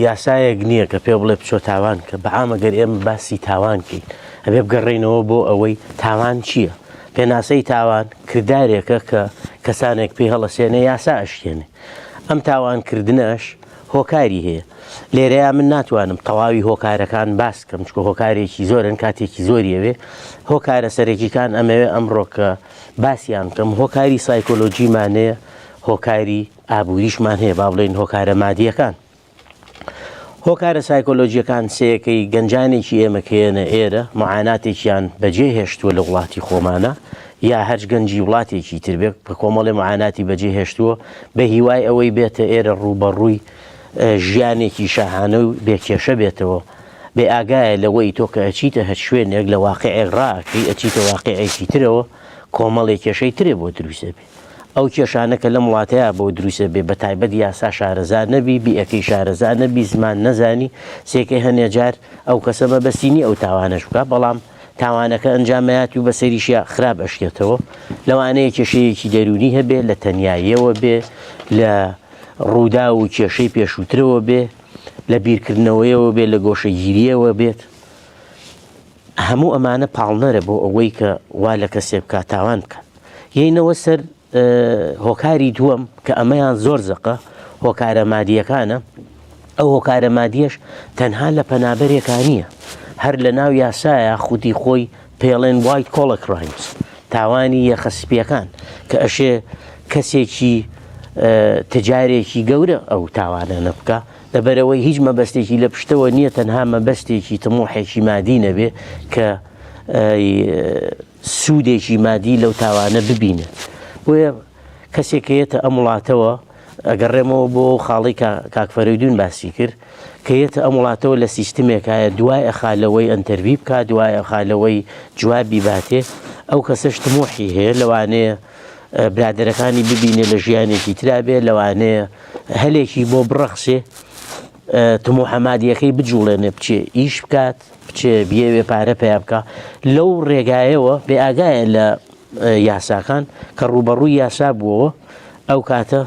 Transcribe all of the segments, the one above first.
یاسایەک نییە کە پێ بڵێ بچۆ تاوان کە بەعامە گەر ئێمە باسی تاوان کەین ئەبێ بگەڕێینەوە بۆ ئەوەی تاوان چییە؟ پێناسەی تاوان کردارێکە کە کەسانێک پێی هەڵەسێنێ یاسا ئەشکێنێ ئەم تاوانکردنەش هۆکاری هەیە لێرەیە من ناتوانم تەواوی هۆکارەکان باس کەم چکە هۆکارێکی زۆرن کاتێکی زۆریەوێ هۆکارە سەرەکیەکان ئەمەوێ ئەمڕۆکە باسییان کەم هۆکاری سایکۆلۆژیمانەیە هۆکاری ئابووریشمان هەیە، با بڵێین هۆکارە مادییەکان. هۆکارە سایکۆلۆژییەکان سێیەکەی گەنجانێکی ئێمە کە یەنە ئێرە معاناتێکیان بەجێ هێشتووە لە وڵاتی خۆمانە یا هەرچ گەنجی وڵاتێکی تربێک بە کۆمەڵی معاناتی بەجێ هێشتووە بە هیوای ئەوەی بێتە ئێرە ڕووبەڕووی ژیانێکی شاهانە و بێکێشە بێتەوە بێ ئاگایە لەوەی تۆ کە ئەچیتە هەر شوێنێک لە واقعێک ڕاکەی ئەچیتە واقعێکی ترەوە کۆمەڵێک کێشەی ترێ بۆ دروستە بێ ئەو کێشانە کە لەم وڵاتەیا بۆ دروست ئەبێ بە تایبەت یاسا شارەزا نەبی، بیئەکەی شارەزا نەبی، زمان نەزانی، سێکەی هەنێ جار ئەو کەسە مەبەستی نیە ئەو تاوانەش بکا بەڵام تاوانەکە ئەنجام ئەیات و بەسەریشیا خراپ ئەشکێتەوە. لەوانەیە کێشەیەکی دەروونی هەبێ، لە تەنیاییەوە بێ، لە ڕووداو و کێشەی پێشووترەوە بێ، لە بیرکردنەوەیەوە بێ، لە گۆشەگیرییەوە بێت. هەموو ئەمانە پاڵنەرە بۆ ئەوەی کە وا لە کەسێ بکات تاوان بکات یەینەوە سەر هۆکاری دووەم کە ئەمەیان زۆر زەقە هۆکارە مادیەکانە ئەو هۆکارە مادیەش تەنها لە پەنابەرێکا نییە هەر لە ناو یاسایە خودی خۆی پێڵێن وایت کۆڵە کرایمز تاوانی یەخەسپیەکان کە ئەشێ کەسێکی تجارێکی گەورە ئەو تاوانە نەبکە لەبەرئەوەی هیچ مەبەستێکی لە پشتەوە نییە تەنها مەبەستێکی تمۆحێکی مادی نەبێ کە سوودێکی مادی لەو تاوانە ببینێت بۆیە کەسێک کەیەتە ئەم وڵاتەوە ئەگەڕێمەوە بۆ خاڵی کاکفەرەدون باسی کرد کەیەتە ئەم وڵاتەوە لە سیستمێکایە دوای ئەخالەوەی ئەتەربی بکات دوای ئەخالەوەی جوابی باتێ ئەو کەسەش تمۆحی هەیە لەوانەیە برادەرەکانی ببینێ لە ژیانێکی ترابێ لەوانەیە هەلێکی بۆ بڕەخسێ تمو حەمادیەکەی بجوڵێنێ بچێ ئیش بکات بچێ بێوێ پارە پیا بکە لەو ڕێگایەوە بێ ئاگایە لە یاساکان کە ڕوبەڕووی یاسا بووەوە ئەو کاتە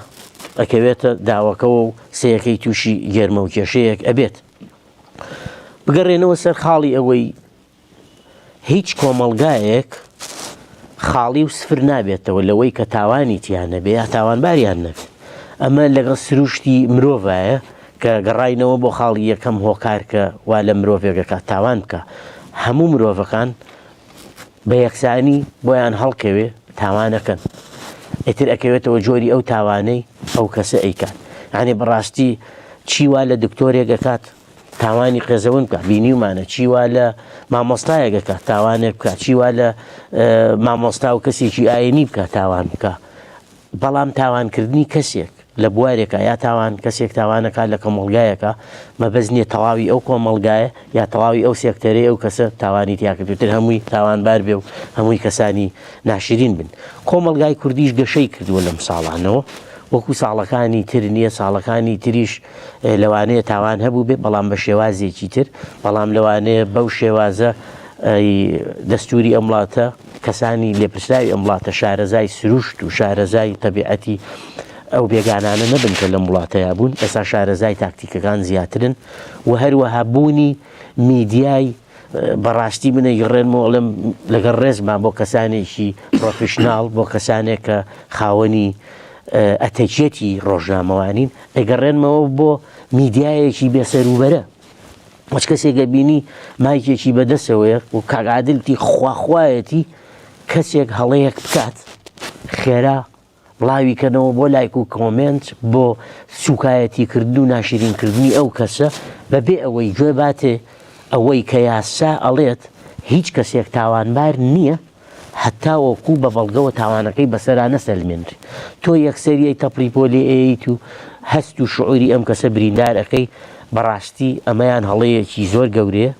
ئەکەوێتە داوەکەەوە و سەیەکەی تووشی گەرمە و کێشەیەک ئەبێت بگەڕێنەوە سەر خاڵی ئەوەی هیچ کۆمەڵگایەک خاڵی و سفر نابێتەوە لەوەی کە تاوانی تیان نەبێ یا تاوانباریان نەبێت ئەمە لەگەڵ سروشتی مرۆڤایە کە گەڕینەوە بۆ خاڵی یەکەم هۆکارکە وا لە مرۆڤێگەکە تاوان بکە هەموو مرۆڤەکان بە یەکسانی بۆیان هەڵکەوێ تاوانەکەن ئیتر ئەکەوێتەوە جۆری ئەو تاوانەی ئەو کەسە ئەیکات یعنی بەڕاستی چیوا لە دکتۆرێک ئەکات تاوانی قێزەون بکە بینیومانە چی وا لە مامۆستایەک بکە تاوانێک بکە چی وا لە مامۆستا و کەسێکی ئاینی بکە تاوان بکە بەڵام تاوانکردنی کەسێک لە بوارێکە یا تاوان کەسێک تاوانەکە لە کۆمەلگایەکە مەبەز نییە تەواوی ئەو کۆمەلگایە یا تەواوی ئەو سێکتەرەی ئەو کەسە تاوانی تیاکردتر هەمووی تاوانبار بێ و هەمووی کەسانی ناشرین بن کۆمەلگای کوردیش گەشەی کردووە لەم ساڵانەوە وەکو ساڵەکانی تر نییە ساڵەکانی تریش لەوانەیە تاوان هەبوو بێ بەڵام بە شێوازێکی تر بەڵام لەوانەیە بەو شێوازە دەستوری ئەم وڵاتە کەسانی لێپرسراوی ئەم وڵاتە شارەزای سروشت و شارەزای تەبیعەتی ئەو بێگانانە نەبن کە لەم وڵاتەیە بوون ئێستا شارەزای تاکتیکەکان زیاترن و هەروەها بوونی میدیای بەڕاستی من ئەیگەڕێنمەوە ئەڵێم لەگەڵ ڕێزما بۆ کەسانێکی پرۆفیشناڵ بۆ کەسانێک کە خاوەنی ئەتەکیەتی ڕۆژنامەوانین ئەگەڕێنمەوە بۆ میدیایەکی بێسەروبەرە مەچ کەسێکە بینی مایکێکی بەدەسەوەیە و کاگادلتی خواخواەتی کەسێک هەڵەیەک بکات خێرا بڵاوی کەنەوە بۆ لایک و کۆمێنت بۆ سوکایەتی کردن و ناشرین کردنی ئەو کەسە بەبێ ئەوەی گوێ باتێ ئەوەی کە یاسا ئەڵێت هیچ کەسێک تاوانبار نیە هەتاوەکو بە بەڵگەوە تاوانەکەی بەسەرا نەسەلمێنرێ تۆ یەکسەریەی تەپڵی بۆ لێ ئەیەیت و هەست و شعوری ئەم کەسە بریندار ئەکەی بەڕاستی ئەمەیان هەڵەیەکی زۆر گەورەیە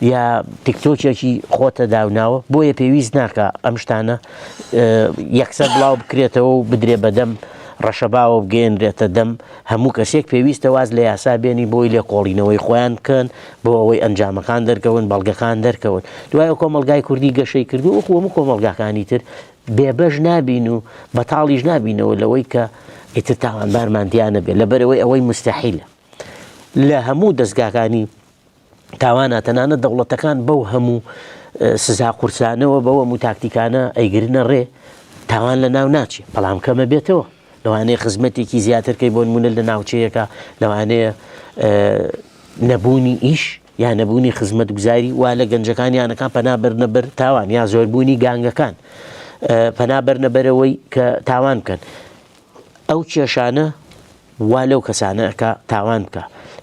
یا تیکتۆکێکی خۆتە داوناوە بۆیە پێویست ناکە ئەم شتانە یەکسەر بڵاو بکرێتەوە و بدرێ بەدەم ڕەشەباوە بگەێنرێتە دەم هەموو کەسێک پێویستە واز لە یاسا بێنی بۆی لێ کۆڵینەوەی خۆیان بکەن بۆ ئەوەی ئەنجامەکان دەرکەون بەڵگەکان دەرکەون دوای کۆمەلگای کوردی گەشەی کردو و خۆمە کۆمەلگاکانی تر بێبەش نابین و بەتاڵیش نابینەوە لەوەی کە ئیتر تاوانبارمان دیانە بێت لەبەرەوەی ئەوەی مستحیلە لە هەموو دەستگاکانی تاوانە تەنانەت دەوڵەتەکان بەو هەموو سزا قورسانەوە بەوە و تاکتیکانە ئەیگرنە ڕێ تاوان لە ناو ناچێت بەڵام کەمە بێتەوە لەوانەیە خزمەتێکی زیاترکەی بۆ نمونە لە ناوچەیەەکە لەوانەیە نەبوونی ئیش یا نەبوونی خزمەت گوزاری وا لە گەنجەکان یانەکان پەنابرنە بەر تاوان یا زۆربوونی گانگەکان پەنابەرنە بەرەوەی کە تاوان بکەن ئەو کێشانە وا لەو کەسانە ئەکا تاوان بکا.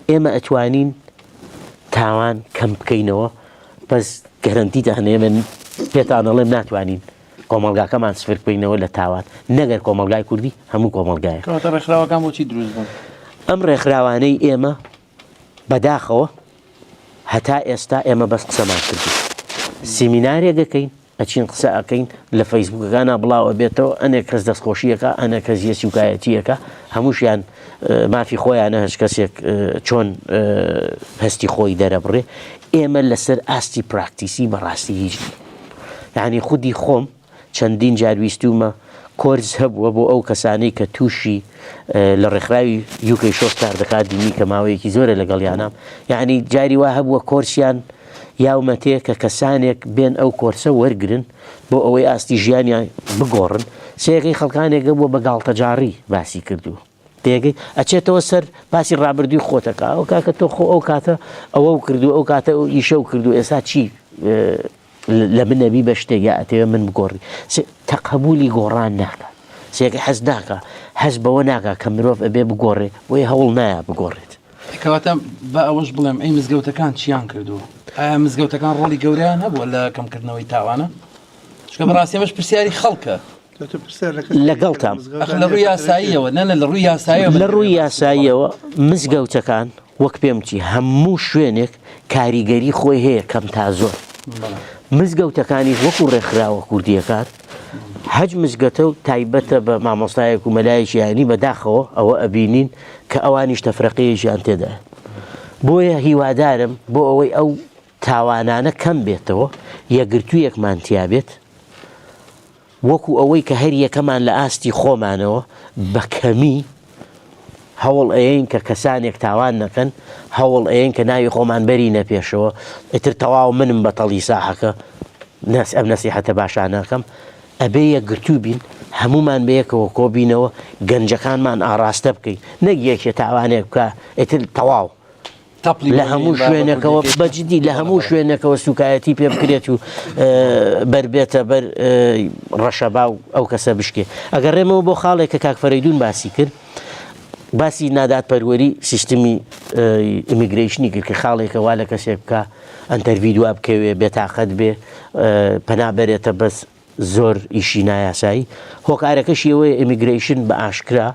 ئێمە ئەتوانین تاوان کەم بکەینەوە بەس گەرەنتیتان ئێمە پێتان ئەڵێم ناتوانین کۆمەڵگاکەمان سفر بکەینەوە لە تاوان نەگەر کۆمەڵگای کوردی هەموو کۆمەڵگایە. کەواتە ڕێکخراوەکان بۆچی دروست بوون؟ ئەم ڕێکخراوانەی ئێمە بەداخەوە هەتا ئێستا ئێمە بەس قسەمان کردو سیمینارێک دەکەین ئەچین قسە ئەەکەین لە فەیسبوکەکانە بڵاو ئەبێتەوە ئەنێک کەس دەستخۆشیەکە ئەنە کەس یە سوکایەتیەکە هەمووشیان مافی خۆیانە هەش کەسێک چۆن هەستی خۆی دەرەبڕێ ئێمە لەسەر ئاستی پراکتیسی بەڕاستی هیچ ینی خودی خۆم چەندین جار ویستوومە کۆرس هەبووە بۆ ئەو کەسانەی کە تووشی لە ڕێکخراوی یوکەی شۆک کار دەکات دینی کە ماوەیەکی زۆرە لەگەڵ یانام یعنی جاری وا هەبووە کۆرسیان یاومەتێ کە کەسانێک بێن ئەو کۆرسە وەرگن بۆ ئەوەی ئاستی ژیانیان بگۆڕن سێغی خەڵکانێکە بووە بە گاڵتەجاڕی باسی کردووە تێگەی ئەچێتەوە سەر باسی ڕابردووی خۆتەکە ئەو کاکە تۆ خۆ ئەو کاتە ئەوە و کردو ئەو کاتە و ئیشە و کردو ئێستا چی لە بنەبی بە شتێک یا ئەتەوێ من بگۆڕی تەقبولی گۆڕان ناکە سێگە حەز ناکە حەز بەوە ناکە کە مرۆڤ ئەبێ بگۆڕێ بۆی هەوڵ نایە بگۆڕێت کەواتە بە ئەوەش بڵێم ئەی مزگەوتەکان چیان کردو ئایا مزگەوتەکان ڕۆڵی گەوریان هەبووە لە کەمکردنەوەی تاوانە چکە بەڕاستێمەش پرسیاری خەڵکە لەگەڵتام. ئەخ لە ڕووی یاساییەوە نەنە لە ڕووی یاساییەوە لە ڕووی یاساییەوە مزگەوتەکان وەک پێم چی هەموو شوێنێک کاریگەری خۆی هەیە کەم تا زۆر مزگەوتەکانی وەکو ڕێکخراوە کوردیەکان حەج مزگەتە و تایبەتە بە مامۆستایەک و مەلایەکی یانی بەداخەوە ئەوە ئەبینین کە ئەوانیش تەفرەقەیەکیان تێدا بۆیە هیوادارم بۆ ئەوەی ئەو تاوانانە کەم بێتەوە، یەکگرتوویەکمان تیا بێت، وەکو ئەوەی کە هەریەکەمان لە ئاستی خۆمانەوە بە کەمی هەوڵ ئەیەین کە کەسانێک تاوان نەکەن، هەوڵ ئەیەین کە ناوی خۆمان بەرینە پێشەوە، ئیتر تەواو منم بەتەڵی ساحەکە، نەس ئەم نەسیحەتە باشانە ئەکەم، ئەبێ یەکگرتوو بین، هەموومان بەیەکەوە کۆبینەوە، گەنجەکانمان ئاڕاستە بکەین، نەک یەکێ تاوانێک بکا ئیتر تەواو، لە هەموو شوێنێکەوە بەجدی لە هەموو شوێنێکەوە سوکایەتی پێ بکرێت و بەر بێتە بەر ڕەشەبا و ئەو کەسە بشکێ ئەگەر ڕێمەوە بۆ خاڵێک کە کاکفرەیدون باسی کرد باسی نادات پەروەری سیستمی ئیمیگریشنی کرد کە خاڵێکە وا لە کەسێک بکە ئەتەرڤی دوا بکەوێ بێتاقەت بێ پەنا بەرێتە بەس زۆر ئیشی نایاسایی، هۆکارەکەشی ئەوەیە ئێمیگرەیشن بە ئاشکرا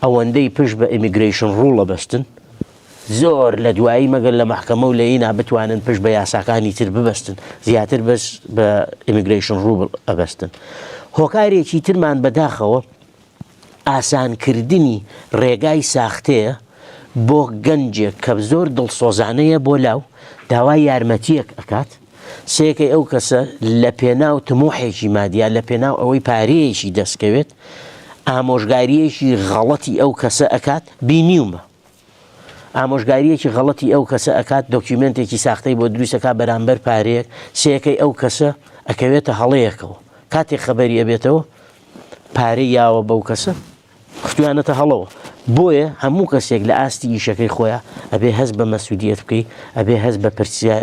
ئەوەندەی پشت بە ئێمیگرەیشن ڕوڵە بەستن زۆر لە دوایی مەگەر لە مەحکەمە و لە ینا بتوانن پشت بە یاساکانی تر ببەستن زیاتر بەس بە ئێمیگرەیشن ڕوبڵ ئەبەستن. هۆکارێکی ترمان بە داخەوە ئاسانکردنی ڕێگای ساختەیە بۆ گەنجێک کە زۆر دڵسۆزانە یە بۆ لاو داوای یارمەتیەک ئەکات سەکەی ئەو کەسە لە پێناو تموحێکی مادیا لە پێناو ئەوەی پارەیەکی دەستکەوێت ئامۆژگاریەکی غەڵەتی ئەو کەسە ئەکات بینیومە. ئامۆژگاریەکی غەڵەتی ئەو کەسە ئەکات دۆکیومێنتێکی ساختەی بۆ دروستەکا بەرامبەر پارەیەک سێەکەی ئەو کەسە ئەکەوێتە هەڵەیەکەوە کاتێک خەبەری ئەبێتەوە پارەی یاوە بەو کەسە خستویانەتە هەڵەوە بۆیە هەموو کەسێک لە ئاستی ئیشەکەی خۆیان ئەبێ هەست بە مەسوودیت بکەیت ئەبێ هەست بە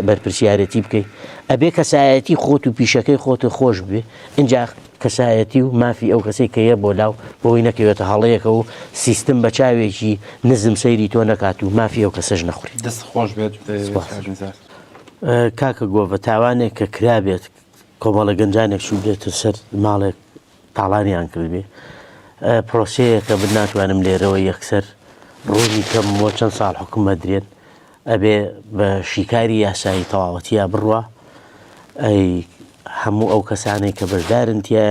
بەرپرسیارەتی بکەیت ئەبێ کەسایەتی خۆت و پیشەکەی خۆت و خۆش بێ اینجا کەسایەتی و مافی ئەو کەسەی کە یە بۆ لاو بۆی نەکەوێتە هەڵەیەکەوە و سیستم بە چاوێکی نزم سەیری تۆ نەکات و مافی ئەو کەسەش نەخوری. دەست خۆش بێت کاک نزار. کاکە گۆڤە تاوانێک کە کرابێت کۆمەڵە گەنجانێک چوبێتە سەر ماڵێک تاڵانیان کردبێ پرۆسەیەکە من ناتوانم لێرەوە یەکسەر ڕوونی کەم بۆ چەند ساڵ حکوم ئەدرێن ئەبێ بە شیکاری یاسایی تەواوەتییا بڕوا ئەی هەموو ئەو کەسانەی کە بەشدارن تایە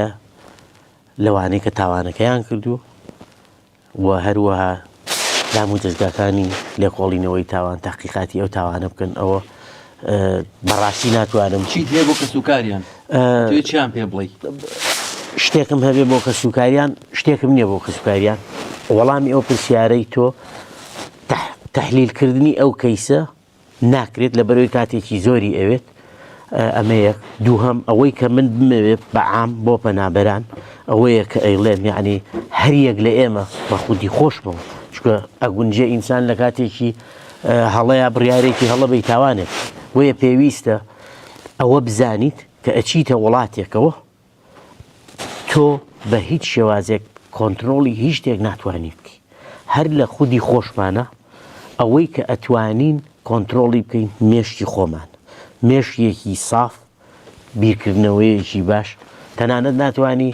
لەوانەیە کە تاوانەکەیان کردووە و هەروەها دام و دەستگاکانی لێکۆڵینەوەی تاوان تاقیقاتی ئەو تاوانە بکەن ئەوە بەڕاستی ناتوانم چیت هەیە بۆ کەسوکاریان چیان پێ بڵی شتێکم هەبێ بۆ کەسوکاریان شتێکم نییە بۆ کەسوکاریان وەڵامی ئەو پرسیارەی تۆ تەحلیل کردنی ئەو کەیسە ناکرێت لە بەرەوەی کاتێکی زۆری ئەوێت ئەمە یەک دووهم ئەوەی کە من بمەوێت بەعام بۆ پەنابەران ئەوەیە کە ئەیڵێن یعنی هەریەک لە ئێمە بە خودی خۆشمەوە چکە ئەگونجێ ئینسان لە کاتێکی هەڵەیە بڕارێکی هەڵە بی تاوانێت بۆیە پێویستە ئەوە بزانیت کە ئەچیتە وڵاتێکەوە تۆ بە هیچ شێوازێک کۆنترۆڵی هیچ شتێک ناتوانانی بکەی هەر لە خودی خۆشمانە ئەوەی کە ئەتوانین کۆنترۆڵی بکەین مێشکی خۆمان مێشیەکی ساف بیرکردنەوەیەکی باش تەنانەت ناتانی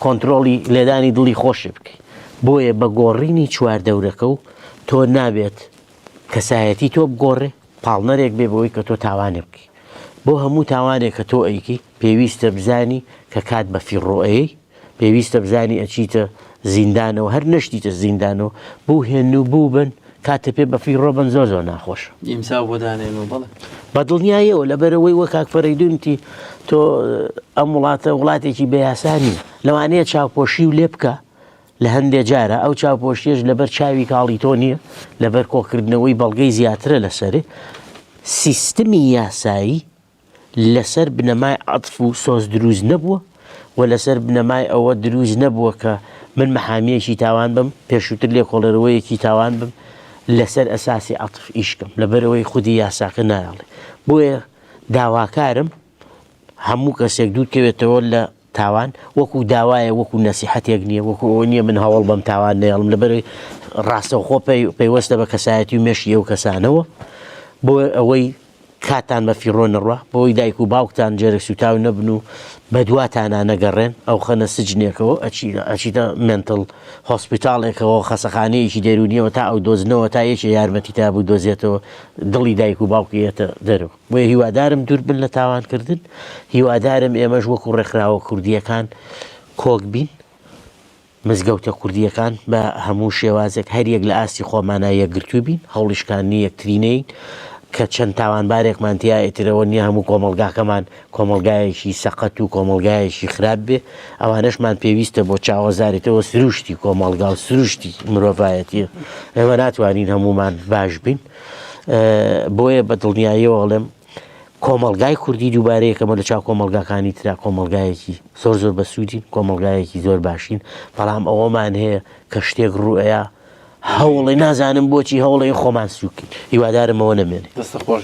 کۆنتترۆڵی لێدانی دڵی خۆش بکەیت بۆیە بە گۆڕینی چوار دەورەکە و تۆ نابێت کەسایەتی تۆ بگۆڕێ پاڵنەرێک بێ بەوەی کە تۆ تاوانێ بکەیت بۆ هەموو تاوانێک کە تۆ ئەیکی پێویستە بزانی کە کات بە فیڕۆ ئەیەی، پێویستە بزانی ئەچیتە زیندانەوە، هەر نەشتیتە زیندانەوە، بووهێن و بووبن، کاتێ پێ بە فیڕۆ بن زۆر زۆر ناخۆشە. ئیمزا بۆ دانێن و بەڵێ. بە دڵنیایەوە، لەبەرئەوەی وەک کاک فەرەیدوون وتی، تۆ ئەم وڵاتە وڵاتێکی بە یاسا نییە، لەوانەیە چاوپۆشی و لێ بکا لە هەندێ جارا، ئەو چاوپۆشییەش لەبەر چاوی کاڵی تۆ نییە، لەبەر کۆکردنەوەی بەڵگەی زیاترە لەسەرێ، سیستمی یاسایی، لەسەر بنەمای عەتف و سۆز دروست نەبووە و لەسەر بنەمای ئەوە دروست نەبووە کە من مەحامییەکی تاوان بم، پێشووتر لێکۆڵێروەیەکی تاوان بم لەسەر ئەساسی عەتف ئیش کەم، لەبەرئەوەی خودی یاساکە نایەڵێ. بۆیە داواکارم هەموو کەسێک دوورکەوێتەوە لە. تاوان وەکو داوایە وەکو نەسیحەتێک نیە وەکو ئەوە نیە من هەوڵ بەم تاوان نەیەڵم لەبەر ڕاستەوخۆ پەیوەستە بە کەسایەتی و مێشی ئەو کەسانەوە بۆ ئەوەی کاتان بە فیڕۆ نڕە بۆی دایک و باوکتان جێرە سوتاو نەبن و بەدواتانە نەگەڕێن ئەو خەنە سجنێکەوە ئەچیدە منتل هۆسپیتالێکەوە خەسەخانەیەکی دەرونیەوە تا ئەو دۆزنەوە تا یەکێ یارمەتی تا بوو دۆزێتەوە دڵی دایک و باوکیەتە دەرەوە بۆیە هیوادارم دوور بن لە تاوان کردن، هیوادارم ئێمەش وەکو ڕێکخراوە کوردییەکان کۆک بین، مزگەوتە کوردییەکان بە هەموو شێوازێک هەر یەک لە ئاستی خۆمانا یەکگرتوو بین، هەوڵی شکاندنی یەکتری نەین، کە چەند تاوانبارێکمان تیا ئیتر ئەوە نییە هەموو کۆمەڵگاکەمان کۆمەڵگایەکی سەقەت و کۆمەڵگایەکی خراپ بێ، ئەوانەشمان پێویستە بۆ چاوەزاریتەوە سروشتی کۆمەڵگا و سروشتی مرۆڤایەتییە، ئێمە ناتوانین هەموومان باش بین. بۆیە بە دڵنیاییەوە ئەڵێم کۆمەلگای کوردی دووبارەیەکەمە لە چاو کۆمەلگاکانی تررا کۆمەلگایەکی زۆر زۆر بە سوودین کۆمەلگایەکی زۆر باشین بەڵام ئەوەمان هەیە کە شتێک ڕوئەیە هەوڵی نازانم بۆچی هەوڵی خۆمان سووکن هیوادارمەوە نەمێنێ دەستە خۆش